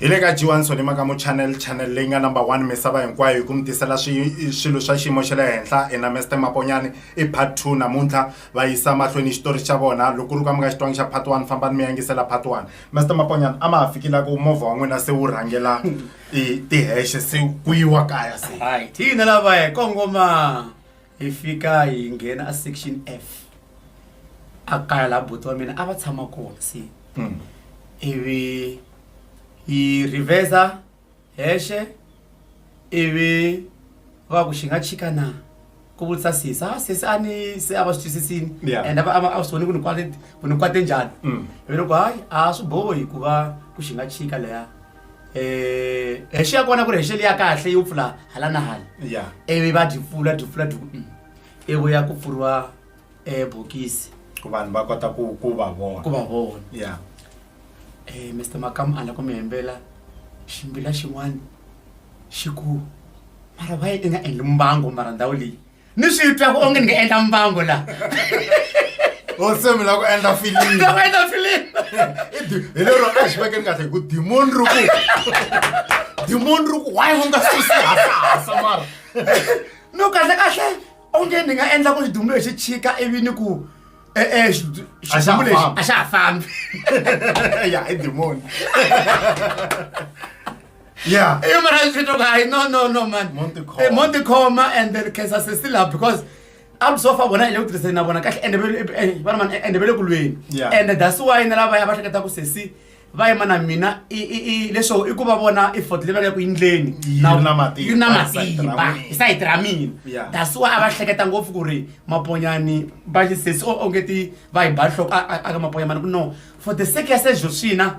hi le ka jiwani sonima ka muchannel channel leyi nga number one misava hinkwayo hi ku mi tisela swilo swa xiyimo xa le henhla hi na mester maponyani i part two namuntlha va yisa mahlweni xitori xa vona loko ri ka mi nga xitwangi xa part one fambani mi yangisela part one mester maponyani a ma ha fikile ku movha wa n'wina se wu rhangela i tiheshe se ku yiwa kaya se hi hina lavaya kongoma hi fika hi nghena a section F a kaya laha buti wa mina a va tshama kona se ivi hi reverse hexe ivi va ku xi nga chika na ku vutisa sesi ha sesi a ni se a va swi twisisini Yeah. and a va a va- a swi voni ku ni kwate ku ni kwate njhani Mm. ivi loko hayi a swi bohi ku va ku xi nga chika leya Eh, hi xiya kona ku ri hi xeli ya kahle yo pfula hala na hala ya ivi va byi pfula byi pfula byi mm. ivi ku ya ku pfuriwa eh, bokisi ku vanhu va kota ku ku va vona ku va vona ya Eh, mr makamu a la ku mi hembela ximbila xin'wana xi ku mara va yi i nga endli mbango mara ndhawu leyi ni swi twa ku onge ni nga endla mbango laha o se mi lava ku endla filimi nga va endla filimi I di- hi lero a xi vekeni kahle hi ku dimoni ri ku dimoni ri ku why u nga susi hasahasa mara no kahle kahle onge ni nga endla ku xidumbu lexi chika ivi ni ku e-e xi- A xa ha xidumbu lexi fambi. a xa ha fambi ya i dimoni Yeah. You mara is fito guy. No, no, no, man. Monte Coma. Eh, Monte Coma and then Kesa se still up because I'm so far bona ile utrese na bona kahle and be bona man and be le kulweni. Yeah. And that's why na lava ya ba hleketa ku sesi va yima na mina i i i leswo i ku va vona i fort level ya ku yindleni Yi na matimba, yi na hi sayiti ra matimba mina. hi sayiti ra mina Yeah. that's why a va hleketa ngopfu ku ri maponyani va xisesi o onge ti va hi ba nhloko a- a a ka maponyamani ku no for the sake ya sexo swina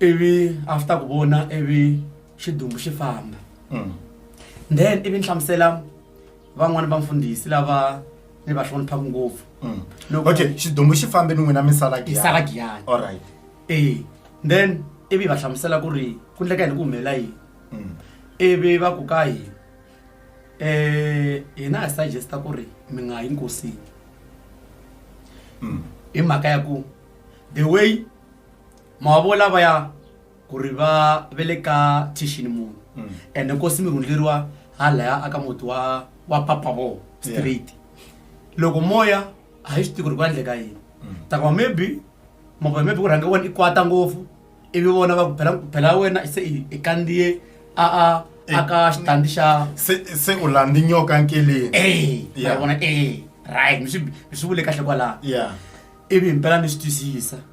ivi after ku vona ivi xidumbu xi famba mm. then ivi ni hlamusela van'wani va mfundhisi lava ni va hloniphaka ngopfu mm. okay xidumbu xi fambe ni n'wina misala gisala giyani all right ee then ivi va hlamusela ku ri ku ndleka yini ku humelela yini mm. ivi va ku ka hina eh hina hi suggesta ku ri mi nga yi nkosini mm. hi mhaka ya ku the way ma wa vo lavaya ku ri va ve le ka thixini munhu Mm. ende nkosi mi rhundleriwa halaya aka muti wa wa papa vo straight loko moya a hi swi tivi ku ri ku endleka yini Mm. takuma maybe mavona maybe ku rhange wena i kwata ngopfu ivi vona va ku phela phela wena se i- i kandziye a a a ka xitandi xa se se u landhi nyoka nkeleni e Yeah. va vona e right mi swi mi swi vule kahle kwalaho yeah ivi himpela ni swi twisisa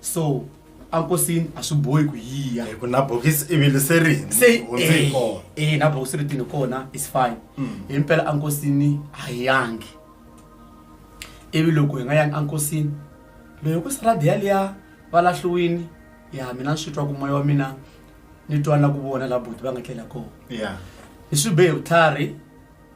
so ankosini a swi bohi ku yiya hi ku na bokisi i vile se ri se eh, eh na bokisi ri tini kona is fine mm. hi mpela ankosini a hi yangi ivi loko hi nga yangi ankosini loyi ku saradi yaliya va lahliwini ya mina ni swi twa ku moya wa mina ni twa na ku vona la buti va nga tlela kona ni swi behe vutlhari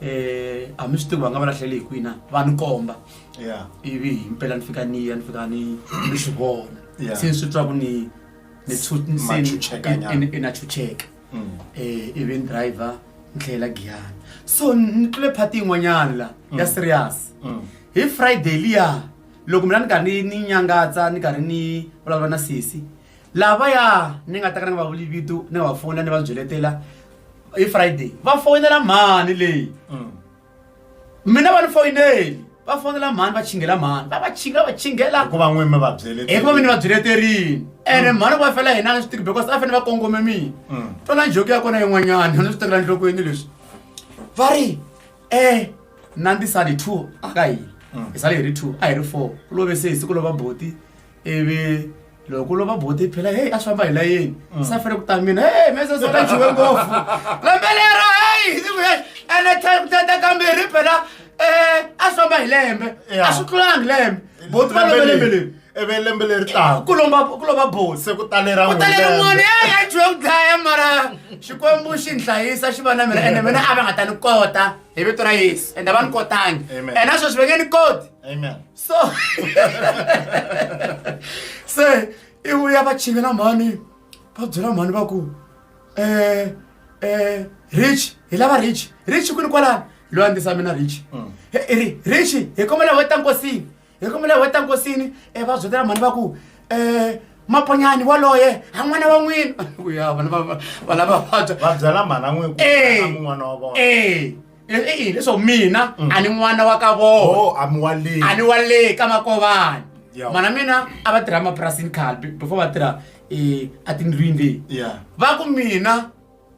eh a mi swi tivi va nga va lahleli hi kwina va ni komba yeah ivi hi mpela ni fika ni ya ni fika ni ni swi vona Yeah. se ni swi twa ku ni ni tshu- ni se ni- Machuchekanyana. i- i- i na chucheka Mm. eh ivi ni driver ni tlhela giyani so ni tlule phati yin'wanyana la ya serious Mm. hi friday liya loko mina ni karhi ni ni nyangatsa ni karhi ni vulavula na sesi lava ya ni nga ta ka ni nga va vuli vito ni nga va fonela ni va byeletela hi friday va fonela mhani leyi mm. mina va ni foyineli va fonela mhani va chingela mhani va va chinga va chingela hikuva n'wini mi va byelete hikuva mi ni va byeleterini ene mm. mhani ku va fela hina a swi tiki because a fanele va kongome mina mm. tona njoki ya kona yin'wanyana ni swi tekela nhlokweni leswi va ri e nandisani two a ka hina hi sale hi ri two a hi ri four ku love sesi ku lova boti ivi loko ku lova boti yi phela heyi a swi famba hi layeni mm. se a fanele ku ta mina heyi mese sona jiwe ngopfu lembe lero heyi ndzi ku heyi ene tata kambirhi phela um a swi famba hi lembe a swi tlulangi lembe boti va love lembe leri ivi lembe leri taka ku lomba ku lova boti se ku talera ku talera n'wana ya ya jiwe ku dlaya mara xikwembu xi ni hlayisa xi va na mina ene mina a va nga ta ni kota hi vito ra yesu ende a va ni kotangi ene sweswi va nge ni koti so se i vuya va chingela mhani va byela mhani va ku um eh, eh, rich hi lava rich rich kwini kwalani loyi a ndisa mina rich mm. ri rich hi kombela weta nkosini hi kombela weta nkosini um eh, va byetela mhani va ku um maponyani waloye a n'wana wa n'wina uya vana va lava vabya va byela mhana n'wini ku n'wana wa vona i i yini leswaku mina a ni n'wana wa ka vona Oh, a mi wa le. a ni wa le ka makovani Yeah. mana mina a va tirha emapurasini khale be- before va tirha um a tindlwini leyi Yeah. va ku mina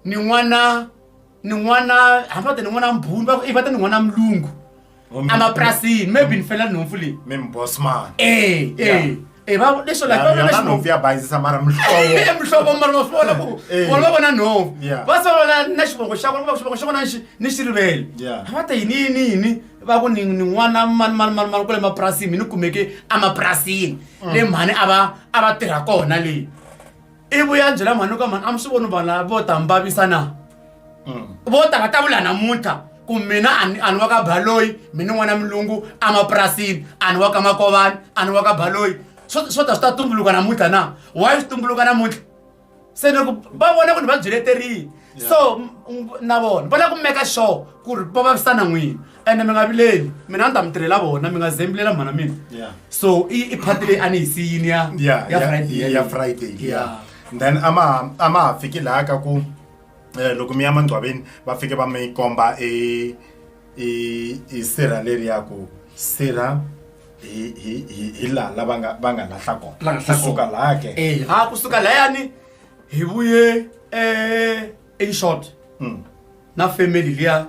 ni n'wana ni n'wana hambi va te ni n'wana mbhuni va ku i va te ni n'wana mulungu Oh, mi- emapurasini maybe ni fela nhompfu leyi Mi mi boss man. e e Yeah. Eh, va- leswo like va vona yona xinhomu. nhopfu ya bayizisa mara muhlovo muhlovo mara wa swi vona ku Eh. vona va vona nhova Yeah. va se va vona na xivongo xa vona va xivongo xa vona xi- ni xi rivele Yeah. va ta yini yini yini va ku ni ni n'wana mani mani mani mani kule mapurasini mi ni kumeke emapurasini le mhani a va a va tirha kona leyi ivo ya byela mhani ka mhani a mi swi voni vanhu lava vo ta mi vavisa na mm. vo ta va ta vula namuntlha ku mina ani wa ka baloyi mina n'wana milungu emapurasini ani wa ka makovani ani wa ka baloyi swo ta swi ta tumbuluka namuntlha na why swi tumbuluka namuntlha se loko va vona ku ni va byeleterile so na vona va lava ku meka sure ku ri va vavisana n'wini ene mi nga vileli mina ni ta mi tirhela vona mi nga zembilela mhana mina Yeah. so i i phati leyi a ni yi siyini ya ya ya friday ya- ya yeleyo. friday Yeah. yeah. then a ma a ma ha fiki laha ka ku eh, loko mi ya mangcwaveni va fike va mi komba e e e sirha leri ya ku sirha hi hi hi hi laha la va nga va nga lahla La kona nga lahla kusuka kona. laha ke Eh, ha kusuka layani hi vuye eh, in short Mm. na family liya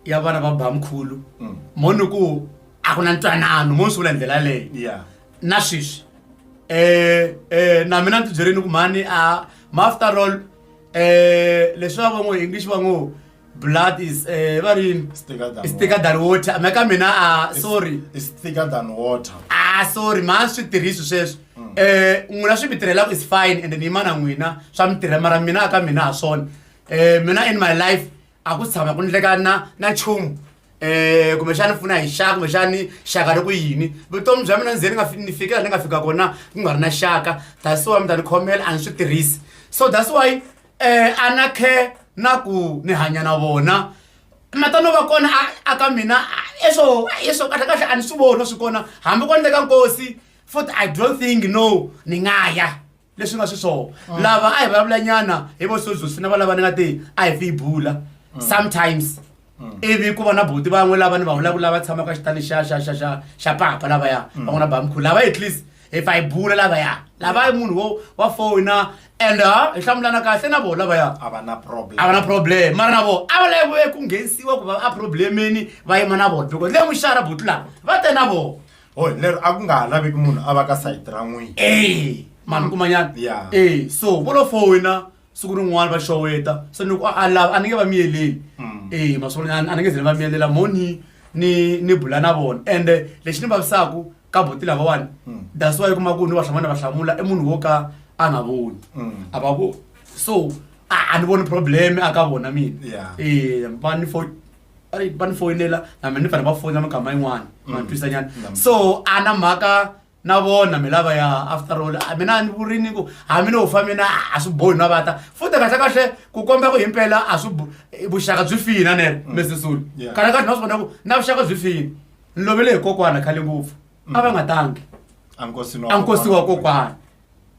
ya vana va bamkhulu mm. mo ni ku a ku na ntwanano mo ni swi vula hi ndlela leyi na sweswi um na mina ni tibyerini ku mhani a maafter all um leswi va van'o english van'o blood is um va ri yini sticker than water me ka mina a sorry sticker than water a sorry ma swi tirhisi sweswo um mm. n'wina swi mi tirhelaka is fine and ni yimana n'wina swa mi tirhela mara mina a ka mina ha swona um mina in my life a ku tshama ku ndleka na na nchumu um kumbexani ni pfuna hi xaka kumbexani xaka ri ku yini vutomi bya mina ndzeni nga ni fikela ni nga fika kona ku nga ri na xaka that's why mi ta ni khomela a ni swi tirhisi so that's why um a na khe na ku ni hanya na vona matano va kona a ka mina eswo eswo kahle kahle a ni swi vona swi kona hambi ko ndleka nkosi futhi i don't think no ni nga ya leswi nga swi swona ah. lava a hi vulavula nyana hi vo sozusi na valava ni nga ti a hi fi yi bula ah. sometimes ah. ivi ku va na buti van'we lava ni va vulavula va tshamaka xitani xa xa xa xa xa papa lavaya mm. van'wana bamkhulu lava at least hi fa hi bula lavaya lava munhu wo wa fona and uh, hi hlamulana kahle na vona vaya a va na problem a va na problem mara na vona a va lave ku nghenisiwa ku va a problemini va yima na vona because le muxara buti lava va te na vona hoy lero a ku nga ha laveki munhu a va ka sayiti ra n'wini e mani kumanyana Yeah. e so vo lo fowina siku rin'wana va xoweta se ni ku a a lava a ni nge va miyeleli Mm. e maswolonyana a ni nge ze ni va miyelela mo ni ni ni bula na vona ende lexi ni vavisaku ka boti lavawani Mm. that's why kuma ku ni va hlamana va hlamula i munhu wo ka a nga voni Mm. a va voni so a a ni voni problem a ka vona mina Yeah. e va ni fo ai va ni foyinela na mina ni fanele va foyina mikama yin'wana Mm. va ni twisanyana Mm. so a na mhaka na vona mi lava ya after all a mina a ni vurini ku hambi no fa mina a swi bohi na vata futhi kahle kahle ku komba ku himpela a swi bo- eh, vuxaka byi fina nene mesisulu Mm. Yeah. kahle kahle na swi vona ku na vuxaka byi fina ni lovele hi kokwana khale ngopfu a va nga tangi a nkosi a nkosi wa kokwana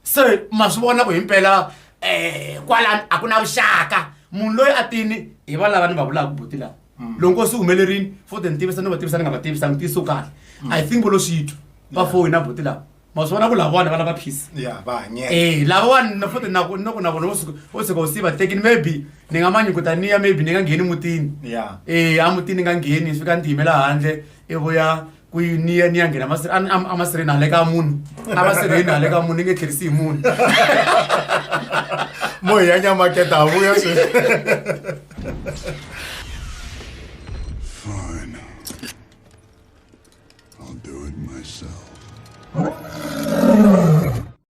se ma swi vona ku himpela um eh, kwalani a ku na vuxaka munhu loyi a tini hi va lava ni va vulaka buti lawa mm. loko nkosi humelerini fo te ni tivisa ni va tivisa ni nga va tivisa ni tiyiso kahle mm. i think volo switwa va foyi na buti lawa ma swi vona ku lavawani va lava peace e lavawani na fote nako noko na vona vo tshuka u siva tekini maybe ni nga manyukuta niya maybe ni nga ngheni mutini e a mutini ni nga ngheni ni fika ni tiyimela handle i vuya ku yi ni ya ni ya nghena masi- a- a- a masirheni handle ka munhu a masirheni handle ka munhu ni nge tlherisi hi munhu mo hi ya nyamaketa ha vuya sweswi Fine. I'll do it myself.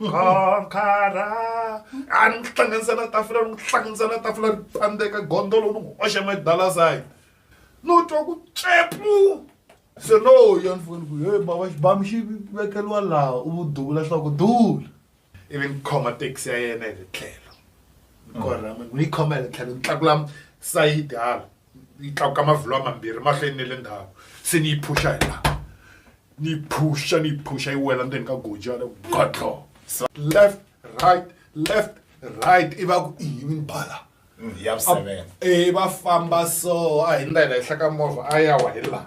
nkhonkhara a ni n'wi hlanganisa na tafula ni n'wi hlanganisa na tafula ri pandzeka gondolo ni n'wi oxa madalasayi no twa ku tsepu se no ya ni foni ku he baba xibamu xi vekeliwa laha u duvula swa ku duvula ivi ni khoma taxi ya yena hi le tlhelo ni korha ni yi khoma hi le tlhelo ni tlakula sayiti hala yi tlakuka mavhilwa mambirhi mahlweni ne le ndhawu se ni yi phusha hi laha ni yi phusha ni yi phusha yi wela ndzeni ka gojana godlo left right left right i va ku i yini bala ya vuseven e va famba so a hi ndlela henhla ka movha a ya wa hi laha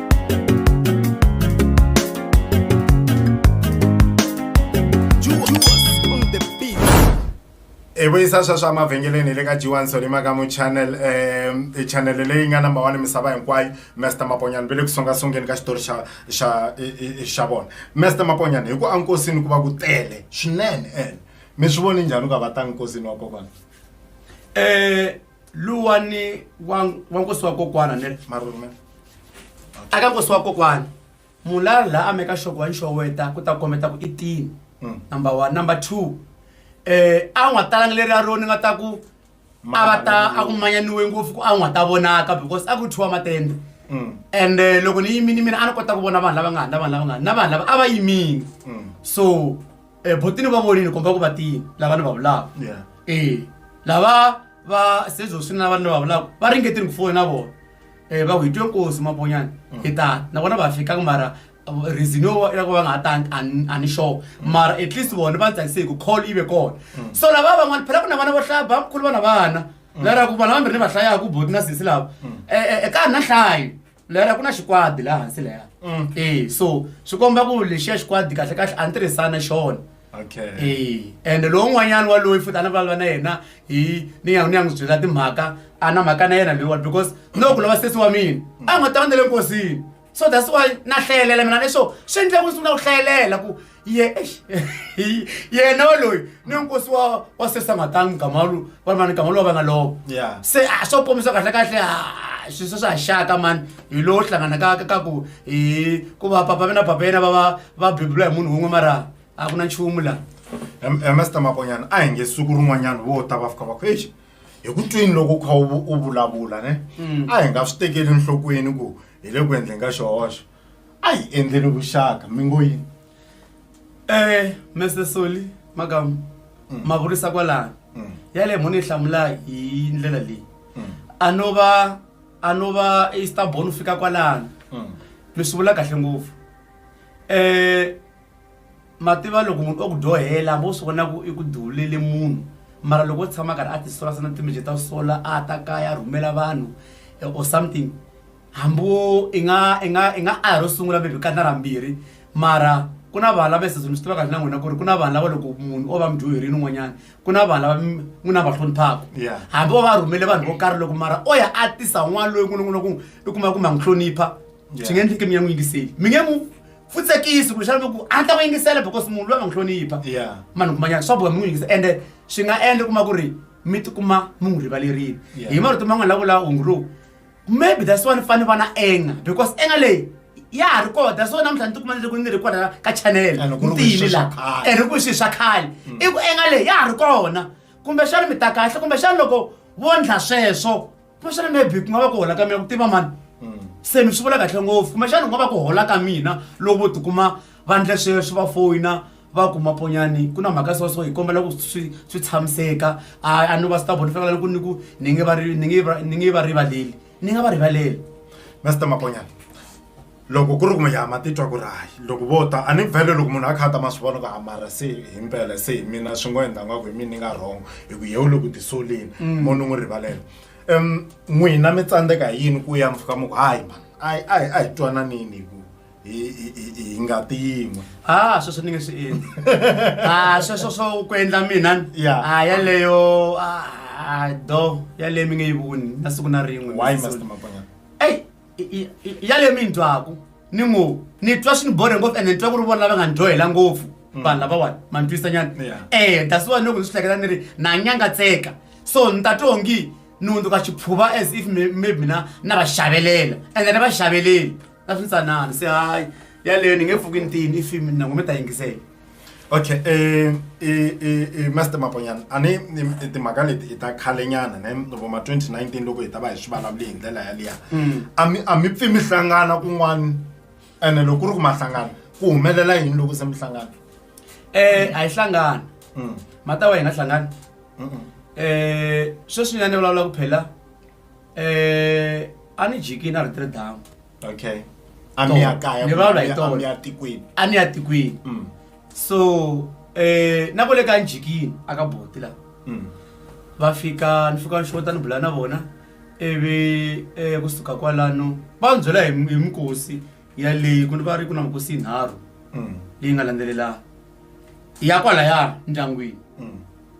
hi vuyisa swa swa mavhengeleni hi le ka jiwani solima ka mu channel um i channel leyi nga number one misava hinkwayo master maponyana ve le ku songa songeni ka xitori xa xa xa vona master maponyana hi ku ankosini ku va ku tele swinene ene mi swi voni njhani ku ka va ta nkosini wa kokwana um luwa ni wa wa nkosi wa kokwana ni marume aka nkosi wa kokwana mulala la ameka xoko wa nxoweta ku ta kombeta ku i tini Mm. number one number two eh a n'wa talanga leri a ro ni nga ta ku a va ta a ku manyaniwe ngopfu ku a n'wa ta vonaka because a ku thiwa matende Mm. and eh, loko ni yimini mina a ni kota ku vona vanhu lava nga ha na vanhu lava nga ha na vanhu lava a va yimini Mm. so Eh, buti ni va vonile komba ku va tiyini lava ni va vulaka Yeah. e lava va sezoswini lava ni va vulaka va ringetile ku fona na vona um va ku hi twe nkosi maponyana hi tani nakona va fikanga mara uh, reason yo va- ya ku va nga ha tani a ni- a ni sure mara at least vona va tsakise hi ku call yi ve kona so lava van'wana phela ku na vana vo hlaya bamkhulu vana vana lera ku vana vambirhi ni va hlayaku boti na sisi lava um ka ha ri na hlayo lera ku na xikwadi laha hansi leya Mm. e so swi komba ku lexiya xikwadi kahle kahle a ni tirhisana xona okay e ende lowun'wanyana waloyi futhi a ni vulavula na yena hi ni ya ni ya n'wi byela timhaka a na mhaka na yena loyiwa because no ku lava sesi wa mina a nga ta va na le nkosini so that's why na hlayelela mina leswo swi endle ku ni sungula ku hlayelela ku ye eish, hi, yena loyi ni nkosi wa wa sesangatani mugama lu va mani gama lowa va nga lova Yeah. se a swo kombisa kahle kahle a swi se swa xaka mani hi lowo hlangana ka ka- ka ku hi ku va papa vena papa yena va va va bebula hi munhu wun'we mara a ku na nchumu laha Em- em, Master makonyana a hi nge siku rin'wanyana vo ta va fika va ku exi hi ku twini loko u kha u vu- u vulavula ne a hi nga swi tekeli enhlokweni ku hi le ku endleni ka xihoxo a hi endleni vuxaka mi ngo yini Eh, Mr. Soli, makamu, ma vurisa kwalano. Yale mhoni hlamula hi ndlela leyi. A no va a no va i stubborn u fika kwalano. Mi swi vula kahle ngopfu. Eh, ma tiva loko munhu o ku dyohela hambi u swi vona ku i ku duvulele munhu mara loko o tshama a karhi a tisola se na timeje ta sola a ta kaya a rhumela vanhu eh, or something hambi wo i nga i nga i nga a ro sungula maybe ka na ra mbirhi mara ku na vanhu lava swi tiva kahle na n'wina ku ri ku na vanhu lava loko munhu o va mudyuherile un'wanyana ku na vanhu lava n'wina va hloniphaka hambi o va rhumele vanhu vo karhi loko mara o ya a tisa n'wana loyi n'wina n'wina ku i kuma kumbe a n'wi hlonipha swi nge endleke mi ya n'wi yingiseli mi nge mu futsekisi kumbe xana ku a ta ku yingisela because munhu loyi a va n'wi hlonipha manhu kumanyana swa boha mi n'wi yingisa ende swi nga endla kuma ku ri mi tikuma mi n'wi rivalerile hi marito man'wana la vula hungu lowu maybe that's why ni fane va na anger because anger leyi ya ha ri kona that's why namuntlha ni tikuma ni ri ku ni ri kona ka channel And ku ri ku i ntiyini swilo swa la khale. and ri ku i swilo swa khale i ku anger leyi ya ha ri kona kumbexana mi ta kahle kumbexana loko vo ndla sweswo kumbexana maybe ku nga va ku hola ka mina ku tiva mani se mi swi vula kahle ngopfu kumbexana ku nga va ku hola ka mina loko vo tikuma vandla sweswi va foyina va ku maponyani ku na mhaka so so hi kombela ku swi swi tshamiseka a a ni va swi ta vona fanela ni ku ni ku ni nge va ri ni nge va ni nge va rivaleli ni nga va rivaleli master maponyana loko ku ri ku mi yama titwa ku ri hayi loko vo ta a ni vhele loko munhu a kha a ta ma swi vona ku hamara se hi mpela se hi mina swi ngo endla ngaku hi mina ni nga wrong hi ku yewu loko tisoleni mo ni n'wi rivalela um n'wina mi tsandzeka hi yini ku ya mi fika mi ku hayi mani a hi a hi a hi twananini hi ku hi hi- hi- hi ngati yin'we ha sweswo ni nge swi endli ha sweswo swo ku endla mina ni? Yeah. ha yaleyo a do yaleyo mi nge yi voni na siku na rin'we why master mapanyana eyi i- i- i- yaleyo mi yi twaku ni ngo ni twa swi ni bore ngopfu ende ni twa ku ri vona lava nga ni dyohela ngopfu vanhu lavawani ma ni twisa nyana Yeah. eh that's why loko ni swi hleketa ni ri na nyangatseka so ni ta twa ongi ni hundzuka xiphuva as if mi- maybe mina na va xavelela ende ni va xaveleli a swi ntsanani se hayi yaleyo ni nge pfuki ntini i fimi na ngome ta yingisela okay eh eh eh master maponyana a ni timhaka leti i ta khale nyana ne loko ma 2019 loko hi ta va hi swi vulavule hi ndlela yaliya hmm. a mi a mi pfimi hlangana kun'wana ene loko ku ri ku mahlangana ku humelela yini loko se mi hlangana eh a yi hlangana hmm. mata wa hina hlangana eh sweswi nyana ni vulavula ku phela eh a ni jiki na ri tiri damu okay a mi ya kaya Ni vulavula hi kumbe a mi ya tona. tikweni a ni ya tikweni Mm, so eh na kule ka njikini aka boti la mm, va fika ni fika ni xota ni bula na vona ivi eh, kusuka kwalano va ni byela hi hi mikosi yaleyi ku ni va ri ku na mikosi yinharhu mm, leyi nga landzelelana ya kwalayani ndyangwini mm.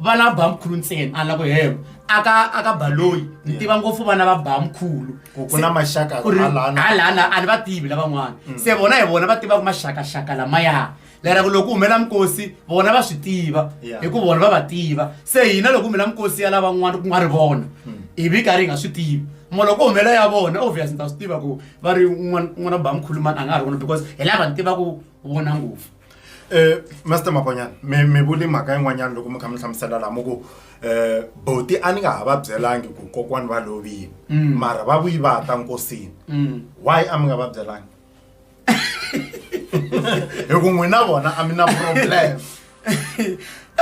va lava bamkhulu ntsena a ni la ku helo aka aka baloyi ni tiva ngopfu vana va bamkhulu Ku- ku na maxaka Ku ri- hala na- hala na a ni va tivi lavan'wana se vona hi vona va tivaka maxakaxaka lamaya lera ku loko ku humela minkosi vona va swi tiva Yeah. hi ku vona va va tiva se hina loko ku humela minkosi ya lavan'wana ku nga ri vona hi vi karhi hi nga swi tivi mo loko ku humela ya vona obvious ni ta swi tiva ku va ri n'wana n'wana bamkhulu mani a nga ha ri vona because hi lava ni tivaku vona ngopfu um master makonyana mi mi vuli mhaka yin'wanyana loko mi kha mi hlamusela lama ku um boti a ni nga ha va byelangi ku kokwani va lovile Mm. mara va vuyi va ta nkosini Mm. why a mi nga va byelangi hi ku n'wina vona a mi na problem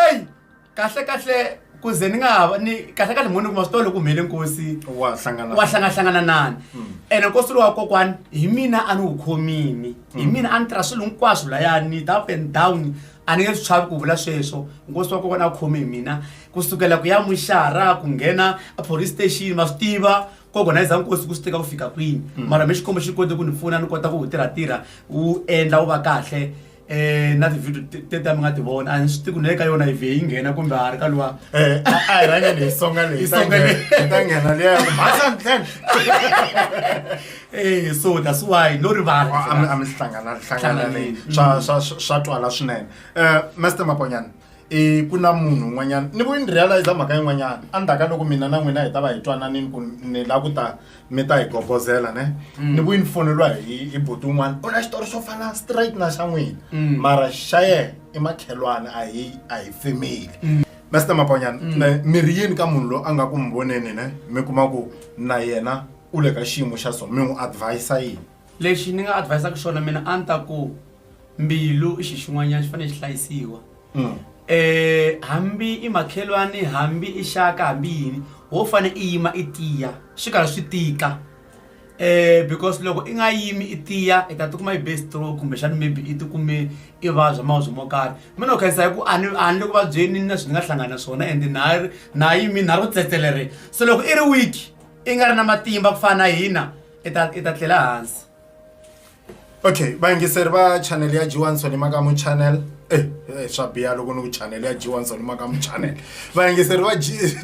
eyi Kahlekahle ku ze ni nga ha va ni kahlekahle mhani kuma swi tiva loko humelele nkosi wa hlangana wa hlangahlangananan hmm. ene nkosi lowa kokwani hi mina a ni wu khomini hi hmm. mina a ni tirha swilo hinkwaswo layani ta up and down a ni nge swi chavi ku vula sweswo nkosi wa kokwana a khome hi mina ku sukela ku ya muxara ku nghena a police station va swi tiva ku organiza nkosi ku swi teka ku fika kwini hmm. mara mi xikombo xi kote ku ni pfuna ni kota ku wu tirhatirha wu endla wu va kahle um na tivhidio tete a mi nga ti vona a ni swi tiku ni le ka yona ive yi nghena kumbe a ri ka luwa eh, a hi rhangeni hi songa leyi ta nghena liya masantlhen e so that's why no rivala a mi hlanganahlanganani swa twala swinene um master maponyana i ku na munhu un'wanyana ni ku ni realize mhaka yin'wanyana endzhaku ka loko mina na n'wina hi ta va hi twananini ku ni la ku ta mi ta hi gogozela ne ni ku yi ni foneriwa hi hi buti un'wana u na xitori xo fana straight na xa n'wina mara xa yena i makhelwani a hi a hi family master maponyana ne mi ri yini ka munhu loyi a nga ku mi voneni ne mi kuma ku na yena u le ka xiyimo xa so mi n'wi advise yini lexi ni nga advisaka xona mina a ni ta ku mbilu i xi xin'wanyana xi fanele xi hlayisiwa um hambi i makhelwani hambi i xaka hambi yini wo fane i yima i tiya swi karhi swi tika um because loko i nga yimi i tiya i ta ti kuma i be stroke kumbexana maybe i ti kume i vabya mavabyi mo karhi me no khensa hi ku a ni a ni le ku vabyeni na swi ni nga hlangana na swona ende na ha ri na ha yimi na ha ri ku tsetselereni se loko i ri weak i nga ri na matimba ku fana na hina i ta i ta tlela hansi. okay vayingiseri va chanel ya jiwanson makamu chanel eh, eh, swa biya loko ni ku chanel ya jiwanson makamu chanel vayingiseri va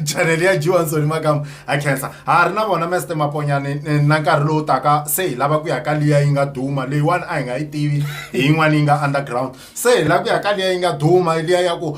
chanel ya jiwanson makamu ha khensa ha ri na vona mester maponyani eh, na nkarhi lowu taka se hi lava ku ya ka liya yi nga duma leyiwani a hi nga yi tivi hi yin'wana yi nga underground se hi lava ku ya ka liya yi nga duma liya ya ku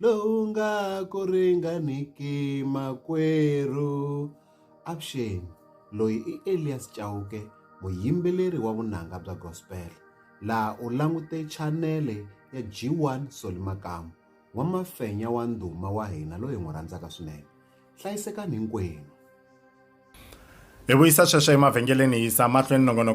lowu nga ku ringaniki makwerhu avuxeni loyi i Elias Chauke muyimbeleri wa vunanga bya gospel laha u langute chanele ya G1 Soli Makamu wa mafenya wa ndhuma wa hina loyi n'wi rhandzaka swinene hlayisekani hinkwenu hi vuyisa sweswo emavhengeleni hi yisa mahlweni nongonoko